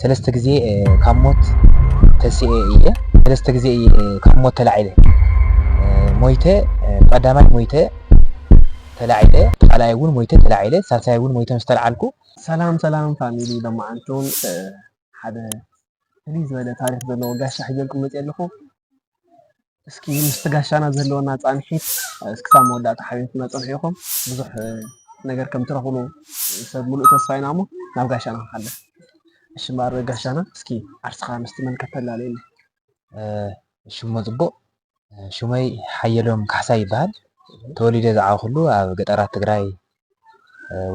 ሰለስተ ግዜ ካብ ሞት ተሲኤ እየ ሰለስተ ግዜ እየ ካብ ሞት ተላዒለ ሞይተ ብቀዳማይ ሞይተ ተላዒለ ብካልኣይ እውን ሞይተ ተላዒለ ሳልሳይ እውን ሞይተ ምስ ተልዓልኩ ሰላም ሰላም ፋሚሊ ሎማዓንቱን ሓደ ፍልይ ዝበለ ታሪክ ዘለዎ ጋሻ ሒዘልኩም መፅየ ኣለኩ እስኪ ምስቲ ጋሻና ዘለወና ፃንሒት እስክሳብ መወዳእታ ሓቢርኩምና ፅንሑ ኢኹም ብዙሕ ነገር ከም ትረኽብሉ ሰብ ሙሉእ ተስፋ ኢና እሞ ናብ ጋሻና ክንሓልፍ። እሺ እምበኣር ጋሻና እስኪ ዓርስኻ ምስ ተመልከት ተላልየለይ። ሽሙ ፅቡቕ ሹመይ ሓየሎም ካሕሳይ ይበሃል። ተወሊደ ዝዓበኹሉ ኣብ ገጠራት ትግራይ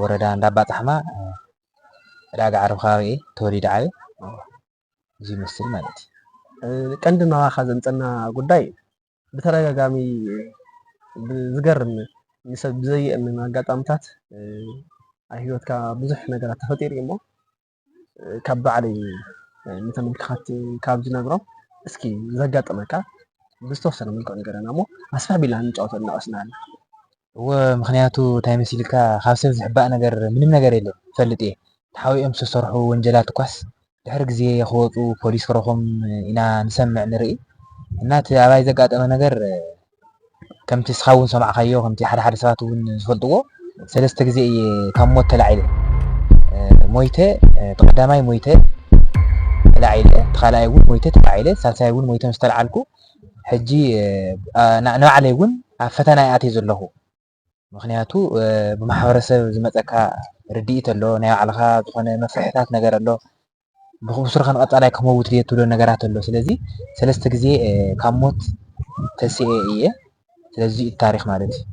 ወረዳ እንዳባፃሕማ ዕዳጋ ዓረብ ከባቢ እየ ተወሊደ ዓብየ። እዚ ይመስል ማለት እዩ። ቀንዲ ናባኻ ዘምፀና ጉዳይ ብተደጋጋሚ ብዝገርም ንሰብ ብዘየእምን ኣጋጣምታት ኣብ ሂወትካ ብዙሕ ነገራት ተፈጢሩ እዩሞ ካብ ባዕለይ ንተመልካኸቲ ካብ ዝነግሮም እስኪ ዘጋጠመካ ብዝተወሰነ መልክዑ ንገረና እሞ ኣስፍሕ ኣቢልና ንጫወተሉ እናቐስናሃልና። እወ ምክንያቱ ታይ መሲልካ ካብ ሰብ ዝሕባእ ነገር ምንም ነገር የለን ይፈልጥ እየ ተሓቢኦም ዝተሰርሑ ወንጀላት እኳስ ድሕሪ ግዜ ክወፁ ፖሊስ ክረክቦም ኢና ንሰምዕ ንርኢ እና እቲ ኣባይ ዘጋጠመ ነገር ከምቲ እስካ እውን ዝሰማዕካዮ ከምቲ ሓደ ሓደ ሰባት እውን ዝፈልጥዎ ሰለስተ ግዜ እየ ካብ ሞት ተላዒለ ሞይተ እቲ ቀዳማይ ሞይተ ተላዒለ እቲ ካልኣይ እውን ሞይተ ተላዒለ ሳልሳይ እውን ሞይተ ምስ ተላዓልኩ ሕጂ ንባዕለይ ውን ኣብ ፈተና እየ ኣትየ ዘለኹ ምኽንያቱ ብማሕበረሰብ ዝመፀካ ርድኢት ኣሎ ናይ ባዕልኻ ዝኾነ መፍርሕታት ነገር ኣሎ ብስሩኸ ንቐፃላይ ክመውት ድየ ትብሎ ነገራት ኣሎ ስለዚ ሰለስተ ግዜ ካብ ሞት ተሲኤ እየ ስለዚ እዚ እዩ እቲ ታሪኽ ማለት እዩ።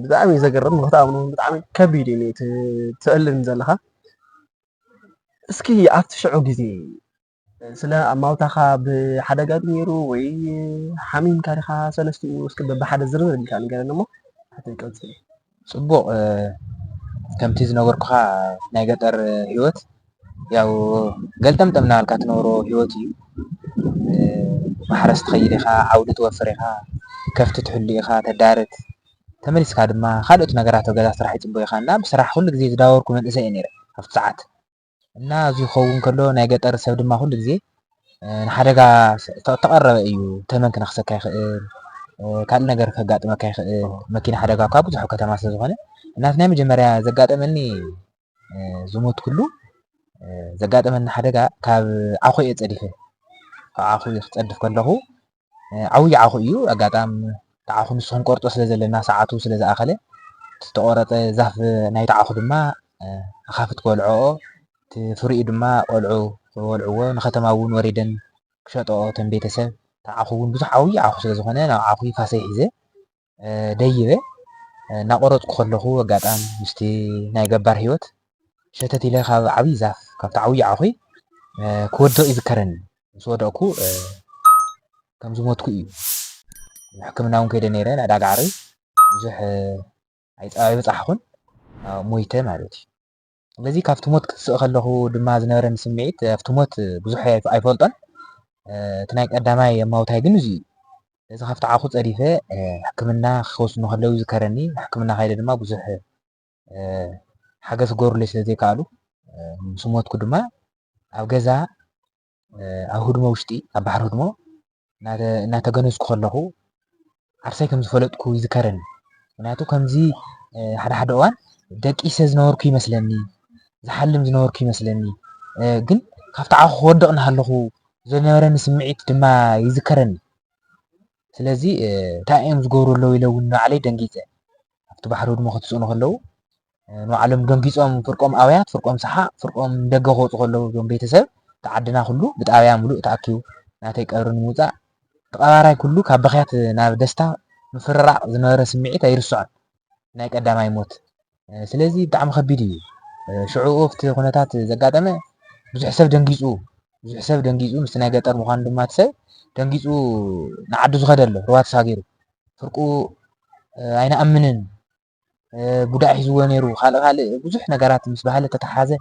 ብጣዕሚ እዩ ዘገርም ንክትኣምኖ ውን ብጣዕሚ ከቢድ እዩ እቲ ተእልም ዘለኻ እስኪ ኣብቲ ሽዑ ግዜ ስለ ኣማውታኻ ብሓደጋ ድዩ ነይሩ ወይ ሓሚምካ ዲኻ ሰለስትኡ እስኪ በብሓደ ዝርዝር ኣቢልካ ንገረኒ እሞ ሓተይ ቀጽል። ጽቡቕ ከምቲ ዝነበርኩኻ ናይ ገጠር ህይወት ያው ገልጠምጠም እናበልካ ትነብሮ ህይወት እዩ። ማሕረስ ትኸይድ ኢኻ፣ ዓውዲ ትወፍር ኢኻ፣ ከፍቲ ትሕሉ ኢኻ፣ ተዳርት፣ ተመሊስካ ድማ ካልኦት ነገራት ኣብ ገዛ ስራሕ ይጽበዩኻ እና ብስራሕ ኩሉ ግዜ ዝዳወርኩ መንእሰይ እየ ነይረ ኣብቲ ሰዓት። እና እዚ ክኸውን ከሎ ናይ ገጠር ሰብ ድማ ኩሉ ግዜ ንሓደጋ ዝተቐረበ እዩ። ተመን ክነኽሰካ ይኽእል፣ ካልእ ነገር ከጋጥመካ ይኽእል፣ መኪና ሓደጋ እኳ ብዙሕ ኣብ ከተማ ስለ ዝኾነ እና እቲ ናይ መጀመርያ ዘጋጠመኒ ዝሞትኩሉ ዘጋጠመኒ ሓደጋ ካብ ዓኹ እየ ጸዲፈ፣ ካብ ዓኹ ክጸድፍ ከለኹ ዓውይ ዓኹ እዩ ኣጋጣም ትዓኹ ንሱ ክንቆርጦ ስለ ዘለና ሰዓቱ ስለ ዝኣኸለ እቲ ዝተቆረጸ ዛፍ ናይቲ ዓኹ ድማ ኣኻፍት ክበልዖኦ እቲ ፍሪኡ ድማ ቆልዑ ክበልዕዎ ንከተማ እውን ወሪደን ክሸጠኦ እተን ቤተሰብ እቲ ዓኹ እውን ብዙሕ ዓውይ ዓኹ ስለ ዝኾነ ናብ ዓኹይ ፋሰይ ሒዘ ደይበ እናቆረፅኩ ከለኹ ኣጋጣም ምስቲ ናይ ገባር ህይወት ሸተት ኢለ ካብ ዓብይ ዛፍ ካብቲ ዓብይ ዓኹ ክወድቕ ይዝከረኒ ምስ ወደቕኩ ከም ዝሞትኩ እዩ ሕክምና እውን ከይደ ነይረ ናይ ዳጋዕሪ ብዙሕ ኣይበፃሕኹን ሞይተ ማለት እዩ ስለዚ ካብቲ ሞት ክትስእ ከለኹ ድማ ዝነበረኒ ስምዒት ኣብቲ ሞት ብዙሕ ኣይፈልጦን እቲ ናይ ቀዳማይ የማውታይ ግን እዚዩ እዚ ካብቲ ዓኹ ጸዲፈ ሕክምና ክወስኑ ከለው ዝከረኒ ሕክምና ካይደ ድማ ብዙሕ ሓገዝ ክገብሩለይ ስለ ዘይከኣሉ ምስ ሞትኩ ድማ ኣብ ገዛ ኣብ ህድሞ ውሽጢ ኣብ ባሕሪ ህድሞ እናተገነዝኩ ከለኹ ዓርሰይ ከም ዝፈለጥኩ ይዝከረኒ። ምክንያቱ ከምዚ ሓደ ሓደ እዋን ደቂሰ ዝነበርኩ ይመስለኒ፣ ዝሓልም ዝነበርኩ ይመስለኒ። ግን ካብቲ ዓኹ ክወድቕ እናሃለኹ ዝነበረኒ ስምዒት ድማ ይዝከረኒ። ስለዚ እንታይ እዮም ዝገብሩ ኣለዉ ኢለ እውን ንባዕለይ ደንጊፀ። ኣብቲ ባሕሪ ህድሞ ክትስእኑ ከለዉ ንባዕሎም ደንጊጾም ፍርቆም ኣውያት ፍርቆም ሰሓቅ ፍርቆም ንደገ ክወጹ ከለዉ እዞም ቤተሰብ እቲ ዓድና ኩሉ ብጣብያ ምሉእ ተኣኪቡ ናተይ ቀብሪ ንምውጻእ እቲ ቀባራይ ኩሉ ካብ ብኽያት ናብ ደስታ ምፍርራቅ ዝነበረ ስምዒት ኣይርስዖን ናይ ቀዳማይ ሞት ስለዚ ብጣዕሚ ከቢድ እዩ ሽዑኡ ኣብቲ ኩነታት ዘጋጠመ ብዙሕ ሰብ ደንጊጹ ብዙሕ ሰብ ደንጊጹ ምስቲ ናይ ገጠር ምዃኑ ድማ እቲ ሰብ ደንጊጹ ንዓዱ ዝኸደ ኣሎ ሩባ ተሳጊሩ ስርቁ ኣይንኣምንን ቡዳ ሒዝዎ ነይሩ ካልእ ካልእ ብዙሕ ነገራት ምስ ባህሊ ተተሓሓዘ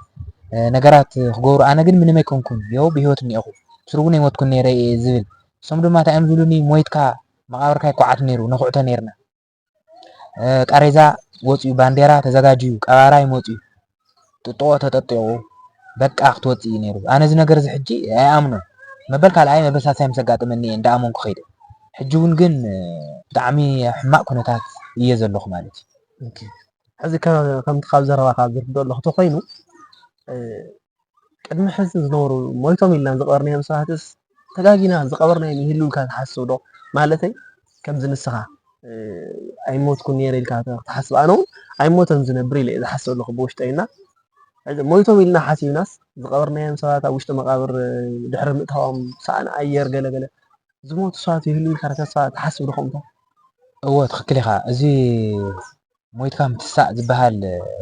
ነገራት ክገብሩ ኣነ ግን ምንም ኣይኮንኩን የው ብሂወት እኒኤኹ ምስሩ እውን ኣይሞትኩን ነይረ እየ ዝብል እሶም ድማ እንታይ እዮም ዝብሉኒ ሞይትካ መቓብርካ ይኳዓት ነይሩ ነኹዕቶ ነይርና ቃሬዛ ወፅዩ ባንዴራ ተዘጋጅዩ ቀባራ ይመፅዩ ጥጥቖ ተጠጢቑ በቃ ክትወጽእ እዩ ነይሩ። ኣነ እዚ ነገርዚ ሕጂ ኣይኣምኖን። መበል ካልኣይ መበሳስያ ምስ ኣጋጠመኒ እየ እንዳኣመንኩ ከይደ። ሕጂ እውን ግን ብጣዕሚ ኣብ ሕማቕ ኩነታት እየ ዘለኹ ማለት እዩ። ኦኬ፣ ሕዚ ከምቲ ካብ ዘረባኻ ዝርድኦ ኣለኹ ተኾይኑ ቅድሚ ሕዚ ዝነበሩ ሞይቶም ኢልና ዝቐበርናዮም ሰባትስ ተጋጊና ዝቐበርናዮም ይህልው ኢልካ ትሓስብ ዶ? ማለተይ ከምዚ ንስኻ ኣይሞትኩን ነይረ ኢልካ ክትሓስብ ኣነ እውን ኣይሞተን ዝነብር ኢለ እየ ዝሓስብ ኣለኹ ብውሽጠይ እና ሞይቶም ኢልና ሓሲብናስ ዝቐበርናዮም ሰባት ኣብ ውሽጢ መቓብር ድሕሪ ምእታዎም ሳእኒ ኣየር ገለገለ ዝሞቱ ሰባት ይህልው ኢልካ ተስፋ ትሓስብ ዶ ከምኡ? እወ ትኽክል ኢኻ እዚ ሞይትካ ምትሳእ ዝበሃል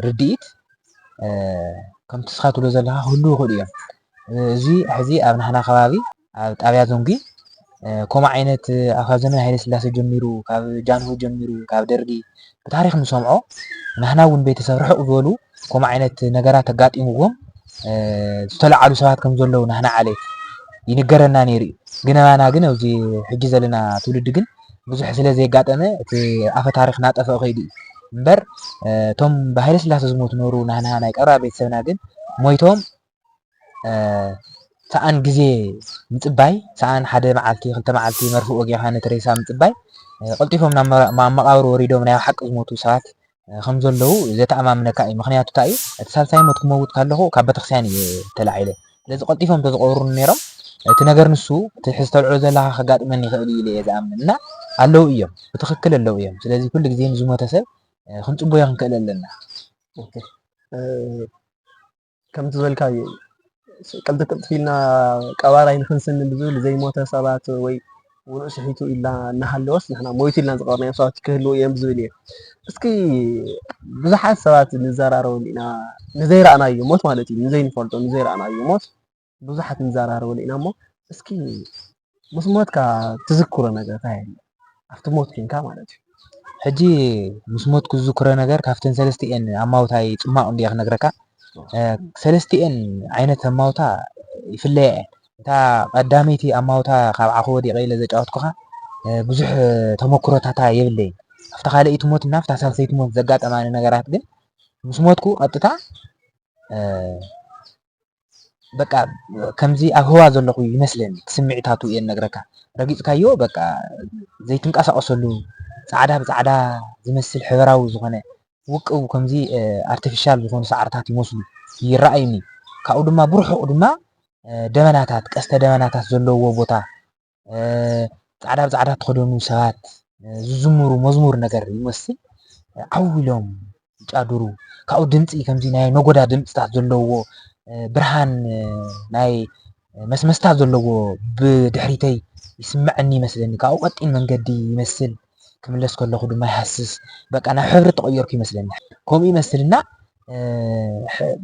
ርድኢት ከምቲ ንስኻ ትብሎ ዘለኻ ክህሉ ይኽእሉ እዮም። እዚ ሕዚ ኣብ ናህና ከባቢ ኣብ ጣብያ ዞንጊ ከምኡ ዓይነት ካብ ዘመነ ሃይለ ስላሴ ጀሚሩ ካብ ጃንሆ ጀሚሩ ካብ ደርጊ ብታሪክ ንሰምዖ ናህና እውን ቤተሰብ ርሕቅ ዝበሉ ከምኡ ዓይነት ነገራት ኣጋጢምዎም ዝተለዓሉ ሰባት ከም ዘለዉ ናህና ዓሌት ይንገረና ነይሩ እዩ። ግን ኣባና ግን ኣብዚ ሕጂ ዘለና ትውልዲ ግን ብዙሕ ስለ ዘየጋጠመ እቲ ኣፈ ታሪኽ እናጠፍኦ ከይዱ እዩ እምበር እቶም ብሃይለስላሰ ዝሞቱ ነበሩ ናህና ናይ ቀረባ ቤተሰብና ግን ሞይቶም ሰኣን ግዜ ምጽባይ፣ ሰኣን ሓደ መዓልቲ ክልተ መዓልቲ መርፍእ ወጊዕካ ነቲ ሬሳ ምጽባይ፣ ቀልጢፎም ናብ መቓብር ወሪዶም ናይ ብሓቂ ዝሞቱ ሰባት ከም ዘለዉ ዘተኣማምነካ እዩ። ምኽንያቱ እንታይ እዩ እቲ ሳልሳይ ሞት ክመውት ከለኹ ካብ ቤተክርስትያን እየ ተላዒለ። ስለዚ ቀልጢፎም እንተዝቐብሩኒ ነይሮም እቲ ነገር ንሱ እቲ ሕዚ ተልዕሎ ዘለኻ ከጋጥመኒ ይኽእል እዩ ኢለ እየ ዝኣምን እና ኣለዉ እዮም ብትኽክል ኣለዉ እዮም። ስለዚ ኩሉ ግዜ ንዝሞተ ሰብ ክንጽበዮ ክንክእል ኣለና። ከምቲ ዝበልካዮ እዩ ቅልጥፍ ቅልጥፍ ኢልና ቀባራይ ንክንስኒ ብዝብል ዘይሞተ ሰባት ወይ ውኑእ ስሒቱ ኢልና እናሃለወስ ንሕና ሞይቱ ኢልና ዝቐበርናዮም ሰባት ክህልዉ እዮም ዝብል እየ እስኪ ብዙሓት ሰባት ንዘራረበሉ ኢና ንዘይረኣናዮ ሞት ማለት እዩ ንዘይንፈልጦ ንዘይረኣናዮ ሞት ብዙሓት ንዛራረበሉ ኢና እሞ እስኪ ምስ ሞትካ ትዝክሮ ነገር እንታይ ኣሎ? ኣብቲ ሞት ኮንካ ማለት እዩ። ሕጂ ምስ ሞትኩ ዝዝክሮ ነገር ካብተን ሰለስቲኤን ኣማውታይ ጽማቕ እንድየ ክነግረካ። ሰለስቲኤን ዓይነት ኣማውታ ይፍለያ እየን። እታ ቀዳመይቲ ኣማውታ ካብ ዓኹ ወዲቐ ኢለ ዘጫወትኩኻ ብዙሕ ተመክሮታታ የብለይን። ኣብታ ካልኣይቲ ሞት እና ኣብታ ሳልሰይቲ ሞት ዘጋጠማኒ ነገራት ግን ምስ ሞትኩ ቀጥታ በቃ ከምዚ ኣብ ህዋ ዘለኹ ይመስለኒ እቲ ስምዒታቱ እየ ዝነግረካ ረጊጽካዮ በቃ ዘይትንቀሳቀሰሉ ጻዕዳ ብጻዕዳ ዝመስል ሕበራዊ ዝኾነ ውቅብ ከምዚ ኣርተፊሻል ዝኾኑ ሳዕርታት ይመስሉ ይረኣዩኒ ካብኡ ድማ ብርሑቅ ድማ ደበናታት ቀስተ ደበናታት ዘለውዎ ቦታ ጻዕዳ ብጻዕዳ ተኸደኑ ሰባት ዝዝምሩ መዝሙር ነገር ይመስል ዓው ኢሎም ይጫድሩ ካብኡ ድምፂ ከምዚ ናይ ነጎዳ ድምፅታት ዘለዎ ብርሃን ናይ መስመስታ ዘለዎ ብድሕሪተይ ይስምዐኒ ይመስለኒ ካብኡ ቀጢን መንገዲ ይመስል ክምለስ ከለኹ ድማ ይሃስስ በቃ ናብ ሕብሪ ተቐየርኩ ይመስለኒ ከምኡ ይመስልና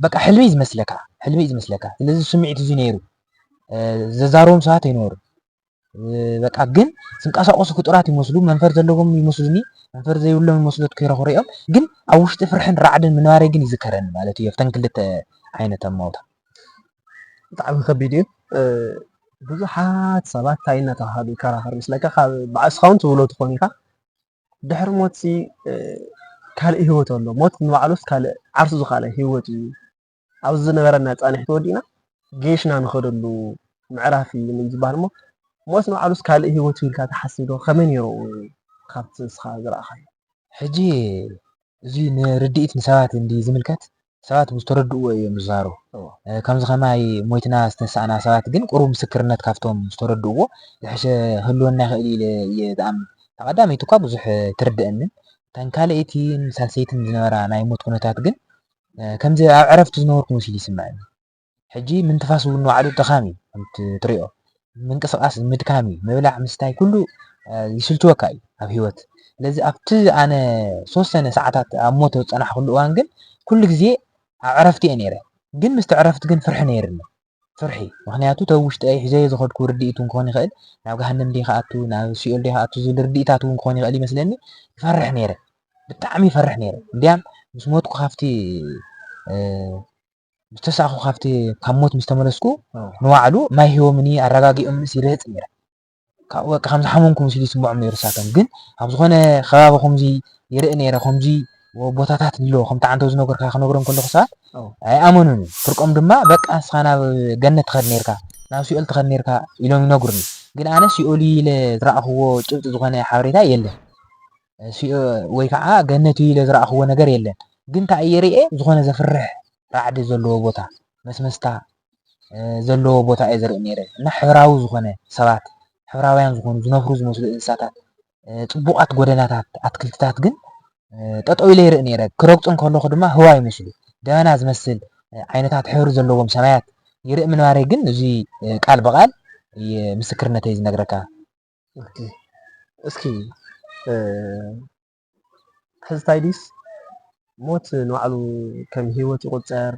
በቃ ሕልሚ ዝመስለካ ሕልሚ ዝመስለካ ስለዚ ስምዒት እዚ ነይሩ ዘዛርቦም ሰባት ኣይነበሩ በቃ ግን ዝንቀሳቀሱ ፍጡራት ይመስሉ መንፈር ዘለዎም ይመስሉኒ መንፈር ዘይብሎም ይመስሉ ክረኽሪኦም ግን ኣብ ውሽጢ ፍርሕን ራዕድን ምንባረ ግን ይዝከረኒ ማለት እዩ ኣብተን ክልተ ዓይነት ኣማውታ ብጣዕሚ ከቢድ እዩ ብዙሓት ሰባት እንታይ እናተባሃሉ ይከራኸሩ ይመስለካ ካብ በዓል እስኻ እውን ትብሎ ትኾን ኢኻ ድሕሪ ሞት ካልእ ህይወት ኣሎ ሞት ንባዕሉስ ካልእ ዓርሱ ዝካለ ህይወት እዩ ኣብዚ ዝነበረና ፃንሒት ወዲእና ገይሽና ንኸደሉ ምዕራፍ እዩ ን ዝበሃል እሞ ሞት ንባዕሉስ ካልእ ህይወት እዩ ኢልካ ትሓስብ ዶ ከመይ ነይሩ ካብቲ ንስኻ ዝረኣኻዮ? ሕጂ እዚ ንርድኢት ንሰባት እንድዩ ዝምልከት ሰባት ብዝተረድእዎ እዮም ዝዛረቡ ከምዚ ከማይ ሞይትና ዝተንሳእና ሰባት ግን ቁሩብ ምስክርነት ካብቶም ዝተረድእዎ ዝሐሸ ክህልወና ይኽእል ኢለ እየ ዝኣምን እታ ቀዳመይቲ እኳ ብዙሕ ኣይትርደኣንን እተን ካልኣይቲን ሳልሰይትን ዝነበራ ናይ ሞት ኩነታት ግን ከምዚ ኣብ ዕረፍቲ ዝነበርኩ መሲሉ ይስምዐኒ። ሕጂ ምንትፋስ እውን ንባዕሉ ድኻም እዩ ከምቲ ትሪኦ ምንቅስቃስ ምድካም እዩ ምብላዕ ምስታይ ኩሉ ይስልችወካ እዩ ኣብ ሂወት ስለዚ ኣብቲ ኣነ ዝተወሰነ ሰዓታት ኣብ ሞት ዝጸናሕኩሉ እዋን ግን ኩሉ ግዜ ኣብ ዕረፍቲ እየ ነይረ ግን ምስቲ ዕረፍቲ ግን ፍርሒ ነይርኒ ፍርሒ ምኽንያቱ ተብ ውሽጠይ ሒዘዮ ዝኸድኩ ርድኢት እውን ክኾን ይኽእል ናብ ገሃነም ድየ ክኣቱ ናብ ሲኦል ድየ ክኣቱ ዝብል ርድኢታት እውን ክኾን ይኽእል ይመስለኒ ይፈርሕ ነይረ ብጣዕሚ ይፈርሕ ነይረ እንድያም ምስ ሞትኩ ካብቲ ዝተሳእኹ ካብቲ ካብ ሞት ምስ ተመለስኩ ንባዕሉ ማይ ሂቦምኒ ኣረጋጊኦምንስ ይርህፅ ነይረ ካብኡ በቃ ከም ዝሓመምኩ መሲሉ ይስምዖም ነይሩ እሳቶም ግን ኣብ ዝኾነ ከባቢ ከምዚ ይርኢ ነይረ ከምዚ ቦታታት ኣሎ ከምቲ ዓንተ ዝነገርካ ክነግሮም ከለኹ ሰባት ኣይኣመኑን ፍርቆም ድማ በቃ ንስኻ ናብ ገነት ትኸድ ነርካ ናብ ሲኦል ትኸድ ነርካ ኢሎም ይነግሩኒ ግን ኣነ ሲኦል ኢለ ዝረኣኽዎ ጭብጢ ዝኾነ ሓበሬታ የለን ወይ ከዓ ገነት ኢለ ዝረኣኽዎ ነገር የለን ግን እንታይ እየ ርኤ ዝኾነ ዘፍርሕ ራዕዲ ዘለዎ ቦታ መስመስታ ዘለዎ ቦታ እየ ዝርኢ ነይረ። እና ሕብራዊ ዝኾነ ሰባት ሕብራውያን ዝኾኑ ዝነፍሩ ዝመስሉ እንስሳታት፣ ጽቡቓት ጎደናታት፣ ኣትክልትታት ግን ጠጠው ኢለ ይርኢ ነይረ። ክረግጹ እንከለኹ ድማ ህዋ ይመስሉ ደበና ዝመስል ዓይነታት ሕብሪ ዘለዎም ሰማያት ይርኢ ምንባረይ ግን እዚ ቃል ብቃል ምስክርነተይ ዝነግረካ። እስኪ ትሕዝታይ ድዩስ ሞት ንባዕሉ ከም ሂወት ይቁጸር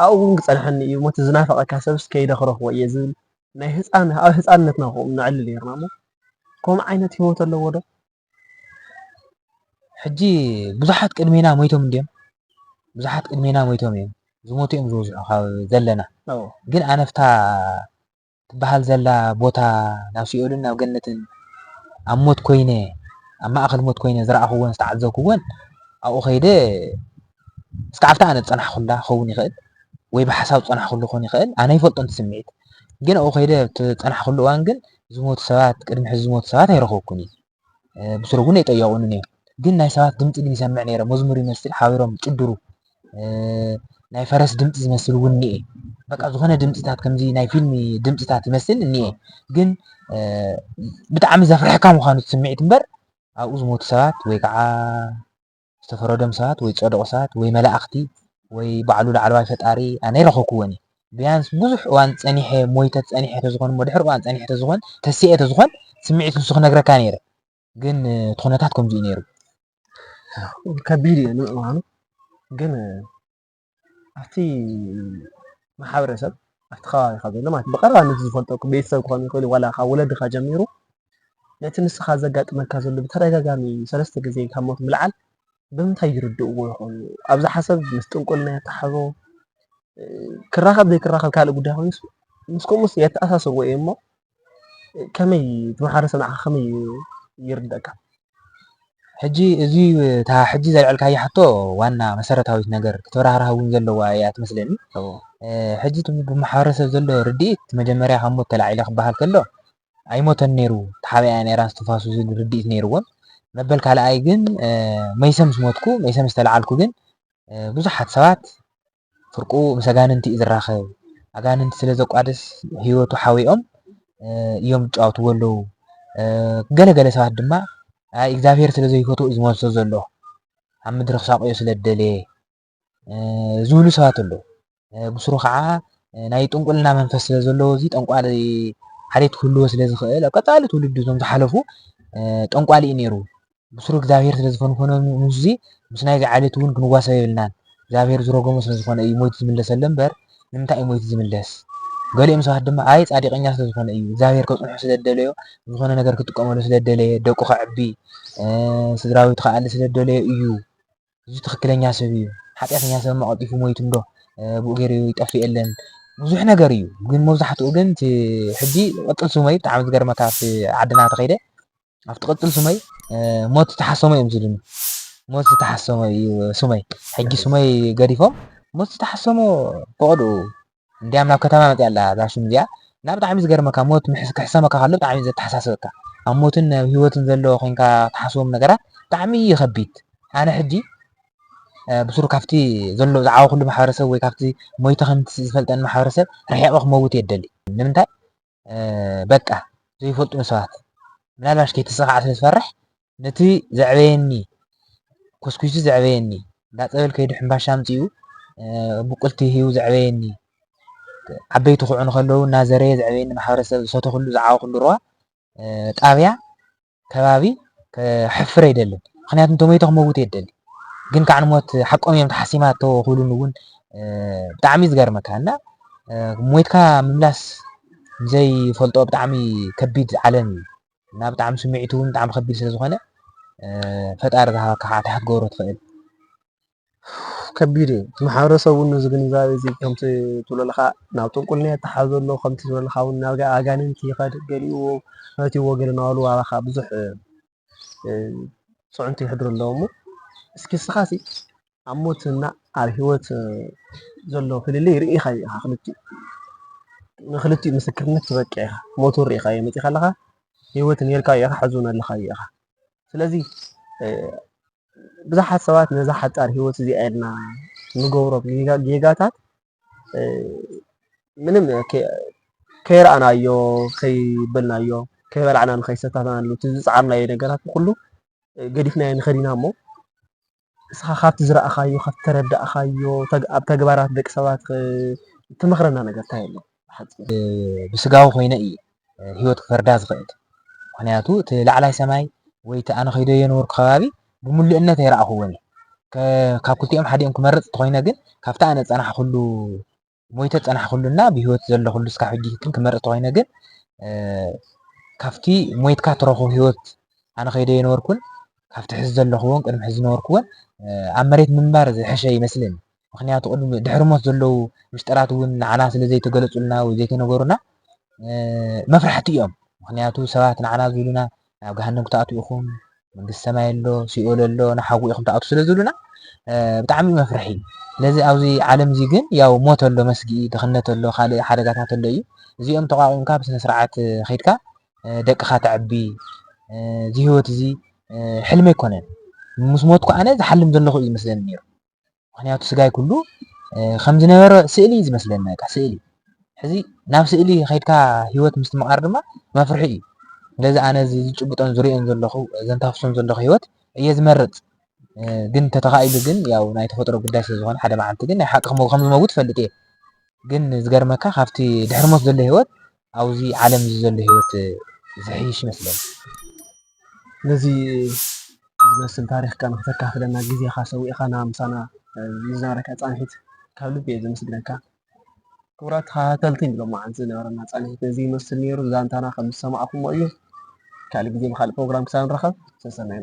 ኣብኡ ውን ክጸንሓኒ እዩ ሞት ዝናፈቀካ ሰብስ ከይደ ክረክቦ እየ ዝብል ናይ ህጻን ኣብ ህጻንነትና ከምኡ ነዕልል ኔርና እሞ ከምኡ ዓይነት ሂወት ኣለዎ ዶ ሕጂ ብዙሓት ቅድሜና ሞይቶም እንድዮም ብዙሓት ቅድሜና ሞይቶም እዮም ዝሞቱ እዮም ዝበዝሑ ካብ ዘለና ግን ኣነፍታ ትበሃል ዘላ ቦታ ናብ ሲኦልን ናብ ገነትን ኣብ ሞት ኮይነ ኣብ ማእከል ሞት ኮይነ ዝረኣኹዎን ዝተዓዘብኩዎን ኣብኡ ከይደ እስከ ኣብታ ኣነ ዝጸናሕኩላ ክኸውን ይኽእል ወይ ብሓሳብ ዝጸናሕኩሉ ክኸውን ይኽእል ኣነ ይፈልጦን እቲ ስምዒት ግን ኣብኡ ከይደ ዝጸናሕኩሉ እዋን ግን ዝሞቱ ሰባት ቅድሚ ሕዚ ዝሞቱ ሰባት ኣይረኸብኩን እየ ብሱሩ እውን ኣይጠየቑንን እዮም ግን ናይ ሰባት ድምፂ ግን ይሰምዕ ነይረ መዝሙር ይመስል ሓቢሮም ጭድሩ ናይ ፈረስ ድምፂ ዝመስል እውን እኒኤ በቃ ዝኾነ ድምፅታት ከምዚ ናይ ፊልም ድምፅታት ይመስል እኒኤ ግን ብጣዕሚ ዘፍርሐካ ምዃኑ ስምዒት እምበር ኣብኡ ዝሞቱ ሰባት ወይ ከዓ ዝተፈረዶም ሰባት ወይ ዝጸደቁ ሰባት ወይ መላእኽቲ ወይ ባዕሉ ላዕለዋይ ፈጣሪ ኣነ ኣይረኸብኩዎን እየ ብያንስ ብዙሕ እዋን ጸኒሐ ሞይተ ጸኒሐ ተዝኾን እሞ ድሕሪ እዋን ጸኒሐ ተዝኾን ተሲኤ ተዝኾን ስምዒት ንሱ ክነግረካ ነይረ ግን እቲ ኩነታት ከምዚኡ ነይሩ ከቢድ እዩ ንምእማኑ ግን ኣብቲ ማሕበረሰብ ኣብቲ ከባቢኻ ዘሎ ማለት ብቐረባ ነቲ ዝፈልጦ ቤተሰብ ክኾን ይኽእል ዋላ ካብ ወለድኻ ጀሚሩ ነቲ ንስኻ ዘጋጥመካ ዘሎ ብተደጋጋሚ ሰለስተ ግዜ ካብ ሞት ምልዓል ብምንታይ ይርድእዎ ይኾኑ? ኣብዛ ሓሰብ ምስ ጥንቁልና የተሓሕዞ ክራኸብ ዘይክራኸብ ካልእ ጉዳይ ኮይኑስ ምስ ከምኡስ የተኣሳስርዎ እየ እሞ ከመይ እቲ ማሕበረሰብ ንዓኻ ከመይ እዩ ይርደእካ? ሕጂ እዚ እታ ሕጂ ዘልዐልካያ ሕቶ ዋና መሰረታዊት ነገር ክትብራህራህ እውን ዘለዋ እያ ትመስለኒ። ሕጂ እቲ ብማሕበረሰብ ዘሎ ርድኢት መጀመርያ ካብ ሞት ተላዒለ ክበሃል ከሎ ኣይሞተን ነይሩ ተሓቢኣ እያ ነይራ እስትንፋሱ ዝብል ርድኢት ነይርዎም። መበል ካልኣይ ግን መይሰ ምስ ሞትኩ መይሰ ምስ ተለዓልኩ ግን ብዙሓት ሰባት ፍርቁ ምስ ኣጋንንቲ እዩ ዝራኸብ ኣጋንንቲ ስለ ዘቋድስ ህይወቱ ሓዊኦም እዮም ዝጫወትዎ ኣለዉ ገለ ገለ ሰባት ድማ ኣይ እግዚኣብሔር ስለ ዘይፈትዎ እዩ ዝመልሶ ዘሎ ኣብ ምድሪ ክሳቆዮ ስለ ዝደለየ ዝብሉ ሰባት ኣለዉ ብስሩ ከዓ ናይ ጥንቁልና መንፈስ ስለ ዘለዎ እዚ ጠንቋሊ ሓልየት ክህልዎ ስለ ዝኽእል ኣብ ቀፃሊ ትውልዲ እዞም ዝሓለፉ ጠንቋሊ እዩ ነይሩ ብስሩ እግዚኣብሄር ስለ ዝፈንፈኖ ንዙዚ ምስ ናይዚ ዓሌት እውን ክንዋሰብ የብልናን እግዚኣብሄር ዝሮጎሞ ስለ ዝኾነ እዩ ሞይቱ ዝምለሰለ እምበር ንምንታይ እዩ ሞይቱ ዝምለስ ገሊኦም ሰባት ድማ ኣይ ጻዲቀኛ ስለ ዝኾነ እዩ እግዚኣብሄር ከጽንሖ ስለ ዝደለዮ ዝኾነ ነገር ክጥቀመሉ ስለ ዝደለየ ደቁ ከዕቢ ስድራቤቱ ክኣሊ ስለ ዝደለዮ እዩ እዚ ትክክለኛ ሰብ እዩ ሓጢኣተኛ ሰብማ ቀልጢፉ ሞይቱ እንዶ ብኡ ገይሩ ይጠፍእ የለን ብዙሕ ነገር እዩ ግን መብዛሕትኡ ግን እቲ ሕጂ ቅጽል ስመይ ብጣዕሚ ዝገርመካ ኣብቲ ዓድና ተኸይደ ኣብ ትቅጽል ሱመይ ሞት ዝተሓሰሞ እዮም ዝብሉኒ ሞት ዝተሓሰሞ እዩ ሱመይ ሕጂ ሱመይ ገዲፎም ሞት ዝተሓሰሞ ፈቐድኡ እንዲያም ናብ ከተማ መጽያ ኣላ እዛ ሹም እዚኣ እና ብጣዕሚ ዝገርመካ ሞት ክሕሰመካ ከሎ ብጣዕሚ ዘተሓሳስበካ ኣብ ሞትን ኣብ ሂወትን ዘሎ ኮንካ ትሓስቦም ነገራት ብጣዕሚ እዩ ከቢድ ኣነ ሕጂ ብሱሩ ካብቲ ዘሎ ዝዓበኹሉ ማሕበረሰብ ወይ ካብቲ ሞይተ ከምቲ ዝፈልጠኒ ማሕበረሰብ ርሒቐ ክመውት እየ ደሊ ንምንታይ በቃ ዘይፈልጡኒ ሰባት ምናልባሽ ከይተሰኻዕ ስለ ዝፈርሕ ነቲ ዘዕበየኒ ኮስኪሱ ዘዕበየኒ እንዳ ፀበል ከይዱ ሕምባሻ ኣምፂኡ ብቁልቲ ሂቡ ዘዕበየኒ ዓበይቲ ክዑኑ ከለዉ እናዘረየ ዘዕበየኒ ማሕበረሰብ ዝሰተኽሉ ዝዓበኹሉ ሩባ ጣብያ ከባቢ ከሕፍር ኣይደልን ምክንያቱ እንተሞይተ ክመውት እየ ደሊ ግን ካዕ ንሞት ሓቆም እዮም ተሓሲማ እቶ ክብሉን እውን ብጣዕሚ ዝገርመካ እና ሞይትካ ምምላስ ዘይፈልጦ ብጣዕሚ ከቢድ ዓለም እዩ እና ብጣዕሚ ስምዒቱ እውን ብጣዕሚ ከቢድ ስለ ዝኾነ ፈጣሪ ዝሃበካ ካዓ እንታይ ክትገብሮ ትኽእል ከቢድ እዩ እቲ ማሕበረሰብ እውን ነዚ ግንዛበ እዚ ከምቲ ትብሎ ዘለኻ ናብ ጥንቁልና እዩ ኣተሓሕዞ ዘሎ ከምቲ ትብሎ ዘለኻ እውን ናብ ኣጋንንቲ ይኸድ ገሊኡ ፈትዩዎ ገለ ናባሉ ዋላ ኻዓ ብዙሕ ፅዕንቶ የሕድሩ ኣለዉ እሞ እስኪ እስኻሲ ኣብ ሞት እና ኣብ ሂወት ዘሎ ፍልልይ ርኢኻዮ ኢኻ ክልቲኡ ንክልቲኡ ምስክርነት ትበቅዕ ኢኻ ሞት እውን ርኢኻዮ መፂእኻ ኣለኻ ሂወት ኔርካዮ ኢኻ ሕዚ እውን ኣለኻዮ ኢኻ ስለዚ ብዙሓት ሰባት ነዛ ሓጻር ህይወት እዚኣ ኢልና ንገብሮም ጌጋታት ምንም ከይረኣናዮ ከይበልናዮ ከይበላዕናን ከይሰታናሉ እቲ ዝጸዓርናዮ ነገራት ኩሉ ገዲፍናዮ ንኸድ ኢና እሞ እስኻ ካብቲ ዝረኣኻዮ ካብቲ ተረዳእኻዮ ኣብ ተግባራት ደቂ ሰባት ትመኽረና ነገር እንታይ ኣሎ? ብስጋዊ ኮይነ እየ ህይወት ክፈርዳ ዝኽእል ምኽንያቱ እቲ ላዕላይ ሰማይ ወይ እቲ ኣነ ከይዶ የነበርኩ ከባቢ ብምሉእነት ኣይረኣኹዎን እየ ካብ ክልቲኦም ሓዲኦም ክመርጽ እንተኾይነ ግን ካብቲ ኣነ ዝጸናሕኩሉ ሞይተ ዝጸናሕኩሉና ብህይወት ዘለኹሉ እስካብ ሕጂ ግን ክመርጽ እንተኾይነ ግን ካብቲ ሞይትካ ትረኽቦ ህይወት ኣነ ከይደ የነበርኩን ካብቲ ሕዚ ዘለኹዎን ቅድሚ ሕዚ ዝነበርኩዎን ኣብ መሬት ምንባር ዝሕሸ ይመስለኒ ምኽንያቱ ቅድሚ ድሕሪ ሞት ዘለዉ ምስጢራት እውን ንዓና ስለ ዘይተገለጹልና ወይ ዘይተነገሩና መፍራሕቲ እዮም። ምኽንያቱ ሰባት ንዓና ዝብሉና ናብ ገሃነም ክትኣትዉ ኢኹም፣ መንግስቲ ሰማይ ኣሎ፣ ሲኦል ኣሎ፣ ንሓዊ ኢኹም ትኣትዉ ስለ ዝብሉና ብጣዕሚ እዩ መፍርሒ። ስለዚ ኣብዚ ዓለም እዚ ግን ያው ሞት ኣሎ መስጊ፣ ድኽነት ኣሎ፣ ካልእ ሓደጋታት ኣሎ እዩ። እዚኦም ተቋቒምካ ብስነ ስርዓት ከይድካ ደቅኻ ተዕቢ እዚ ህይወት እዚ ሕልሚ ኣይኮነን። ምስ ሞትኩ ኣነ ዝሓልም ዘለኹ እዩ ዝመስለኒ ነይሩ። ምክንያቱ ስጋይ ኩሉ ከም ዝነበረ ስእሊ እዩ ዝመስለኒ በቃ ስእሊ ሕዚ ናብ ስእሊ ከድካ ሂወት ምስትምቓር ድማ መፍርሒ እዩ ስለዚ ኣነ እዚ ዝጭብጦን ዝሪኦን ዘለኹ ዘንታፍሶን ዘለኹ ሂወት እየ ዝመርፅ ግን ተተኻኢሉ ግን ያው ናይ ተፈጥሮ ጉዳይ ስለ ዝኾነ ሓደ መዓልቲ ግን ናይ ሓቂ ከም ዝመውት ፈልጥ እየ ግን ዝገርመካ ካብቲ ድሕሪ ሞት ዘሎ ሂወት ኣብዙ ዓለም እዙይ ዘሎ ህይወት ዘሕይሽ ይመስለኒ። ነዚ ዝመስል ታሪኽካ ንክተካፍለና ግዜኻ ሰዊእኻ ምሳና ንዝነበረካ ፃንሒት ካብ ልቢ እየ ዘመስግነካ። ክቡራት ተኸታተልቲ ሎማዓንቲ ዝነበረና ፃንሒት ነዚ ይመስል ነይሩ። ዛንታና ከምዝሰማዕኹምዎ እዩ። ካልእ ግዜ ብካልእ ፕሮግራም ክሳብ ንራኸብ ሰሰናዩ።